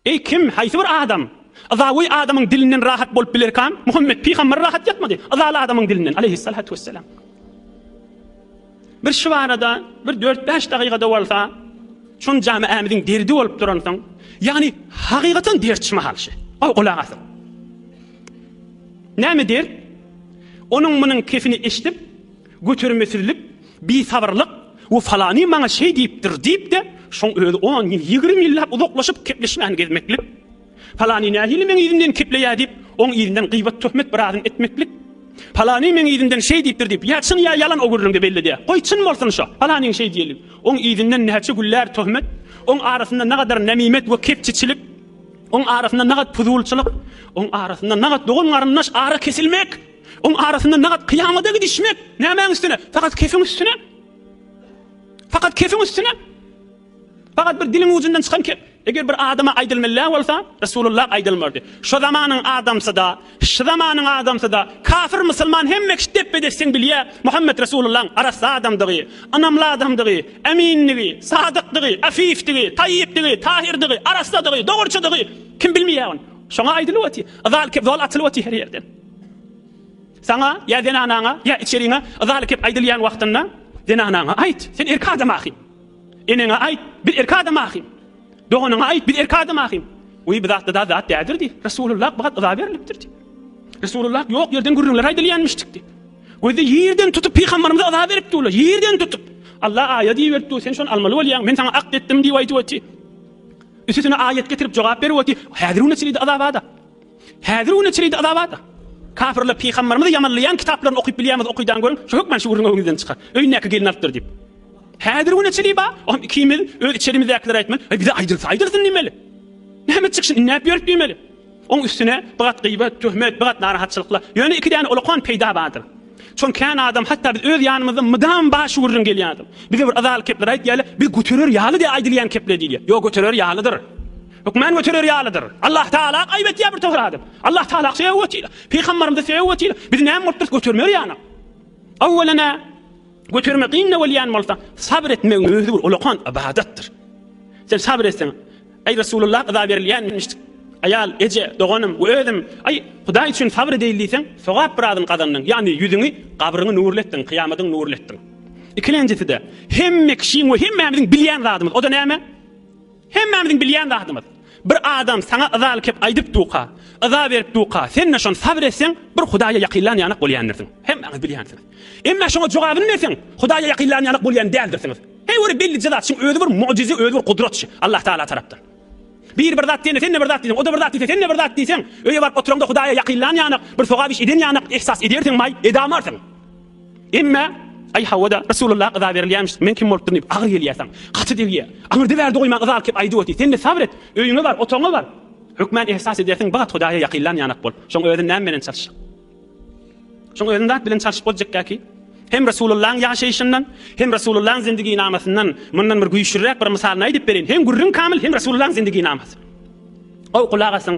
Eý, kim, haýsy bir adam, yzawy adamyň dilinden rahat bolup bilerkam? Muhammet pygamber rahat ýatmady, yzaly adamyň dilinden, aleýhissalatu wessalam. Bir şybarada, bir dört-bäş dagygada bolsa, şon jamaämiziň derdi bolup duransoň, ýagny hakykaten dert şyma halşy. Goý, gulak asyň. Näme dert? Onuň munuň kefini eşidip, Götermesizlik, bisabyrlyk, we falany maňa şeý diýipdir diýip-de, şoň özi on ýyl, ýigrimi ýyllap uzaklaşyp gepleşmän gezmeklik. Falany nähili meň yzymdan kepleýär diýip, oň yzyndan gyýbat-töhmet biradyny etmeklik. Falany meň yzymdan şeý diýipdir diýip, ýa çyn, ýa ýalan o gürrüňde bellidi. Goý, çyn bolsun şo, falanyň şeý diýeni. Oň yzyndan näçe güller töhmet, oň arasynda nagadar nemimet we kepçiçilik, oň arasynda nagat puzulçylyk, oň arasynda nagat dogan-garyndaş ara kesilmek! Oň arasynda nagat kyýamada gidişmek nämäň üstüne? Fakat kefiň üstüne? Fakat kefiň üstüne? Fakat bir diliň ucundan çykan kep. Eger bir adama aýdylmalla bolsa, Resulullah aýdylmardy. Şu zamanyň adamsy-da, şu zamanyň adamsy-da, kafir musulman hemme kişi depbe-dep sen bilýä Muhammet Resulullahyň arassa adamdygy, ynamly adamdygy, emindigi, sadykdygy, afifdigi, taýypdygy, tahyrdygy, arassadygy, dogruçydygy kim bilmeýä ony. Şoňa aýdylyp otyr. Zal kep zol açylyp otyr her ýerden. Saňa ýa zenanaňa, ýa içeriňe yzaly kep aýdylýan wagtynda, zenanaňa aýt, sen erkek adam ahym. Eneňe aýt, biz erkek adam ahym. Doganyňa aýt, biz erkek adam ahym. Wiý, bu zatda da zat dädir diý. Resulullah bu gat yza berlipdir diý. Resulullah ýok ýerden gürrüňler aýdylýanmyşdyk diý. Gözi ýerden tutup pygambarymyza yza beripdi olar, ýerden tutup. Allah aýat iberip dur, sen şony almaly bolýaň, men saňa akt etdim diýip aýdyp oty. Üsüsine aýat getirip jogap berip oty. Häzir-u neçelidi yza bada. Häzir güne çenli-de azabat. Kapyrlar pygamberimizi ýamanlaýan kitaplaryny okyp bilýämiz okydan görüň şu hökman şüwrüňi öňüňizden çykar. Öýündäki gelini alypdyr diýip. Häzir güne çenli bar. Oňam ikimiz öz içerimizdäkiler aýtman, Aý bize aýdylsa aýdylsyn diýmeli. Näme çykşyn inläp ýörüp diýmeli. Oň üstüne bigat gyýbat, töhmet, bigat narahatçylyklar. Ýöne iki däne olakan peýda bardyr. Şoň kän adam hatda biz öz ýanymyzda mydam bar şüwrüň gelýärdir. Bize bir yzaly kepler aýt diýäle, biz göterer ýaly diýe aýdylýan kepler diýilýär. Ýok göterer ýalydyr. Hökman göterer ýalydyr. Allah Tagala aýyp etýär bir towra adam. Allah Tagala söýüp otyr. Pygambarymyzy söýüp otyr. Biz näme bolupdyrys götermeli ýanyk. Awwalana götermek gynda bolýan bolsa, sabr etmegiň özi bir ulakan ybadatdyr. Sen sabr etseň, Aý Resulullah yza berilýänmişdik. Aýal, eje, doganym we özüm, aý, Hudaý üçin sabr edeýin diýseň, sogap biradyny gazandyň, ýagny ýüzüňi, gabryňy nurly etdiň, kyýamadyňy nurly etdiň. Ikilenjisi-de, hemme kişiň we hemmämiziň bilýän zadymyz, o-da näme? Hemmämiziň bilýän zadymyz. Bir adam saňa yzaly kep aýdyp duka, yza berip duka, sen-de şony sabyr etseň, bir Hudaýa ýakynlan ýanak bolýandyrsyn. Hemmäňiz bilýänsiňiz. Emma şoňa jogabyny berseň, Hudaýa ýakynlan ýanak bolýan däldirsiňiz. Heý bir bellije zat, şuň özi bir mugjyza, özi bir gudrat şu, Allah Tagala tarapdan. Biri bir zat diýende, sen-de bir zat diýseň, o-da bir zat diýse, sen-de bir zat diýseň, öýe baryp oturaňda Hudaýa ýakynlan ýanak, bir sogap iş eden ýanak ihsas edersiňmaý, edamarsyň. Emme, Aý hawa-da, Resulullah yza berilýämiş, men kim bolup durun diýip agyr gelýärsiň. Gaty degýär. Aňyrda bärde goýma yza alyp aýdyp otyr. Sen-de sabr et. Öýüňe bar, otagyňa bar. Hökmän ehsas edersiň, bagt Hudaýa ýakynlan ýanak bol. Şoň özün näme bilen çalyş. Şoň özün zat bilen çalyşyp boljekkä ki, hem Resulullahyň ýaşaýşyndan, hem Resulullahyň zindiginamasyndan mundan bir güýçlüräk bir mysalyny aýdyp bereýin. Hem gürrüň kamyl, hem Resulullahyň zindiginamasy. Goý, gulak asyň.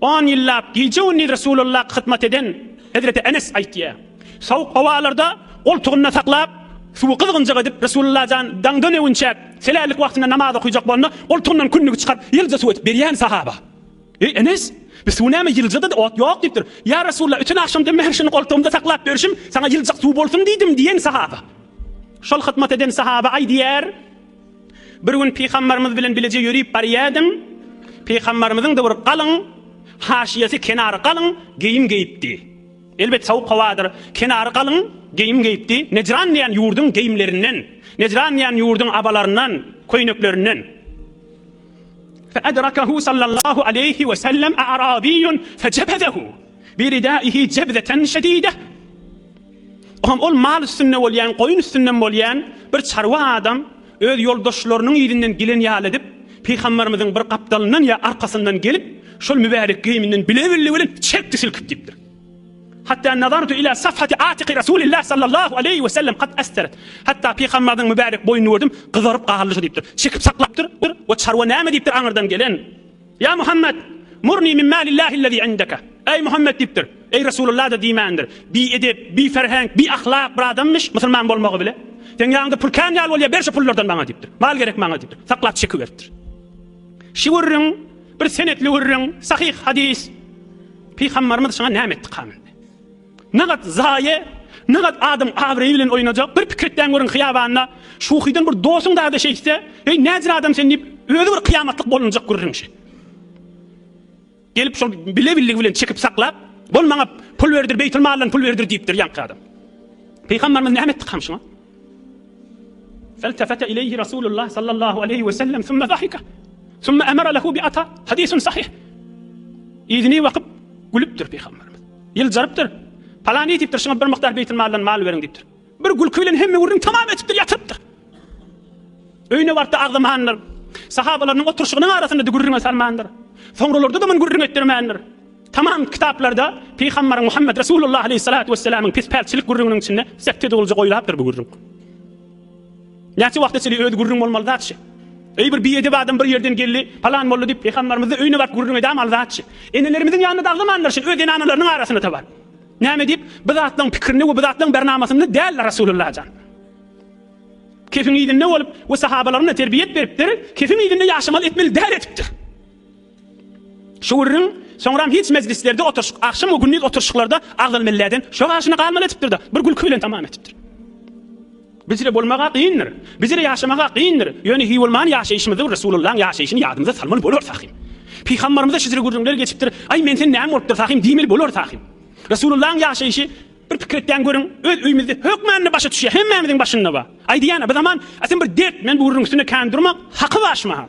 On ýyllap gije-gündiz Resulalla hyzmat eden hezreti Enes aýtýar, Sowuk howalarda goltugynda saklap, suwy gyzgynjak edip, Resulalla jan daň döneginçäk, selällik wagtynda namaz okyjak bolanda, goltugyndan kündügi çykaryp, ýylja suw edip berýän sahaba, Eý, Enes! Bu suw näme, ýylja-da ot ýok diýipdir. Ýa Resulalla, öten agşamdan bäri şuny goltugymda saklap ýörşüm, saňa ýyljak suw bolsun diýdim diýen sahaba. Şol hyzmat eden sahaba aýdýar. Bir gün pygambarymyz bilen bileje ýörip barýardyň. Pygambarymyzyň da bir galyň, haşyýasy kenary galyň geýim geýipdi. Elbet sowuk howadyr. Kenary galyň geýim geýipdi. Nejran diýen ýurduň geýimlerinden, Nejran diýen ýurduň abalaryndan, köýneklerinden. Fe adrakahu sallallahu aleyhi ve sellem a'rabiyyun fe cebezehu bi ridaihi cebzeten şedide. Olam ol mal üstünde bolýan, goýun üstünden bolýan bir çarwa adam öz ýoldaşlarynyň yzyndan gelen ýaly edip, pygamberimiziň bir gapdalyndan ýa arkasyndan gelip, şol mübärek geýiminden bile-bille bilen çekdi silkip diýipdir. Hatda nazartu ila safhati atiqi Rasulillah sallallahu aleýhi we sellem kad asteret. Hatda pygamberimiziň mübärek boýnuny gördüm, gyzaryp galdy şu diýipdir. Çekip saklapdyr we çarwa näme diýipdir aňyrdan gelen. Ýa Muhammet! Murni min malillahi'l-lezî indeke. Eý Muhammet diýipdir. Eý Resulullah-da diýmändir. Biedep, biferhenk, biahlak bir adammyş, musulman bolmagy bile. Seň ýaňyňda pul kän ýaly bolýar, ber şu pullardan maňa diýipdir. Mal gerek maňa diýipdir. Saklap çekiberipdir. Şi gürrüň bir senetli gürrüň, sahyh hadys. Pygambarymyz şuňa näme etdi, kamy? Nagat zaýe, nagat adam abraýy bilen oýnajak. Bir pikir etdäň görüň hyýabanda şuhydan bir dosuň dada şeýtse, eý näzir adam sen diýip özi bir kyýamatlyk bolunjak gürrüň şe. Gelip şol bile billigi bilen çekip saklap, bol maňa pul berdir beýtulmaldan pul berdir diýipdir ýaňky adam. Pygambarymyz näme etdi kam şuňa? Feltefete ileýhi Rasulullah sallallahu aleýhi we sellem sümme zahike sümme emere lehu bi ata Hadisun sahih Yzyny bakyp gülüpdir Pygamberimiz. Ýyljarypdyr. Palany diýipdir, şuňa bir mukdar beýtilmaldan mal beriň diýipdir. Bir gülki bilen hemme gürrüň tamam etipdir, ýatyrypdyr. Öýüne barypda agzamandyr. Sahabalarynyň oturyşygynyň arasynda-da gürrüňe salmandyr. Soňralarda-da muny gürrüň etdirmändir. Tamam kitaplarda Pygambar Muhammed Resulullah aleyhissalatu vesselamyň pis-pälçilik gürrüňiniň içinde sekte dogulja goýlapdyr bu gürrüň. Näçe wagta çenli özi gürrüň bolmaly zatçy. Eý bir biedep adam bir ýerden geldi, palan boldy diýip Pygambarymyzy öýüne baryp gürrüň edämaly zatçy. Enelerimiziň ýanyna daglamanlar şin öz zenanalarynyň arasyna-da bar. Näme diýip, bu zatlaryň pikirinde we bu zatlaryň bernamasynda däldir Resulullah jan. Kefiň yzynda bolup we sahabalaryna terbiýet beripdir, kefiň yzynda ýaşamaly etmeli däl edipdir. Şu gürrüň soňram hiç mejlislerde oturyşyk, agşam we gündiz oturyşyklarda agzaly melläden şo gaşyny galmaly etipdir-de, bir gülki bilen tamam etipdir. Bizre bolmaga kyndyr. Bizre ýaşamaga kyndyr. Ýöne hiý bolman ýaşaýşymyzda bir Resulullaň ýaşaýşyny ýadymyza salmaly bolar Sahym. Pygambarymyza şizre gürrüňler geçipdir, Aý, men sen näme bolupdyr Sahym diýmeli bolar Sahym. Resulullaň ýaşaýşy bir pikir etýän görüň, öz öýümizde hökmände başa düşýär, hemmämiziň başynda bar. Aýdýan-a, bir zaman, A sen bir dert, men bu gürrüň üstünde kän durmak, haky bar şumaha.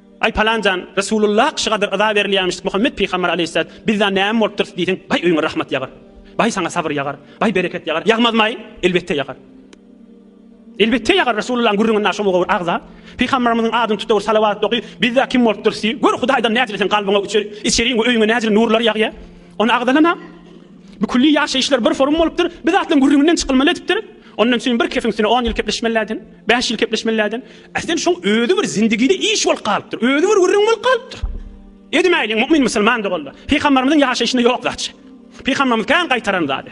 Aý palanjan, Resulullah kişigadyr yza berilýämişdik, Muhammet pygamber aleýhissalat, bizza näme bolupdyrys diýseň, baý öýüňe rahmat ýagar. Baý saňa sabyr ýagar. Baý bereket ýagar. Ýagmazmaý? Elbetde ýagar. Elbetde ýagar Resulullaň gürrüňinde şo mugawir agza, pygamberimiziň adyny tutawir salawat oky, bizza kim bolupdyrys diý, gör Hudaýdan nädili seň kalbyňa üçe, içeriň we öýüňe nädili nurlar ýagýa. Ony agzalama. Bu külli ýaşaýyşlar bir forum bolupdyr, bizatlaň gürrüňinden çykylmaly edipdir. Ondan çyn bir kefiň üstüne on ýyl kepleşmelläden. Bäş ýyl kepleşmelärden, äsli şoň özi bir zindigide iş bolup galypdyr, özi bir gürrüň bolup galypdyr. Edimäýliň, mu'min musulman doganlar, pygambarymyzyň ýaşaýşynda ýok zatçy. Pygambarymyz kän gaýtaran zady.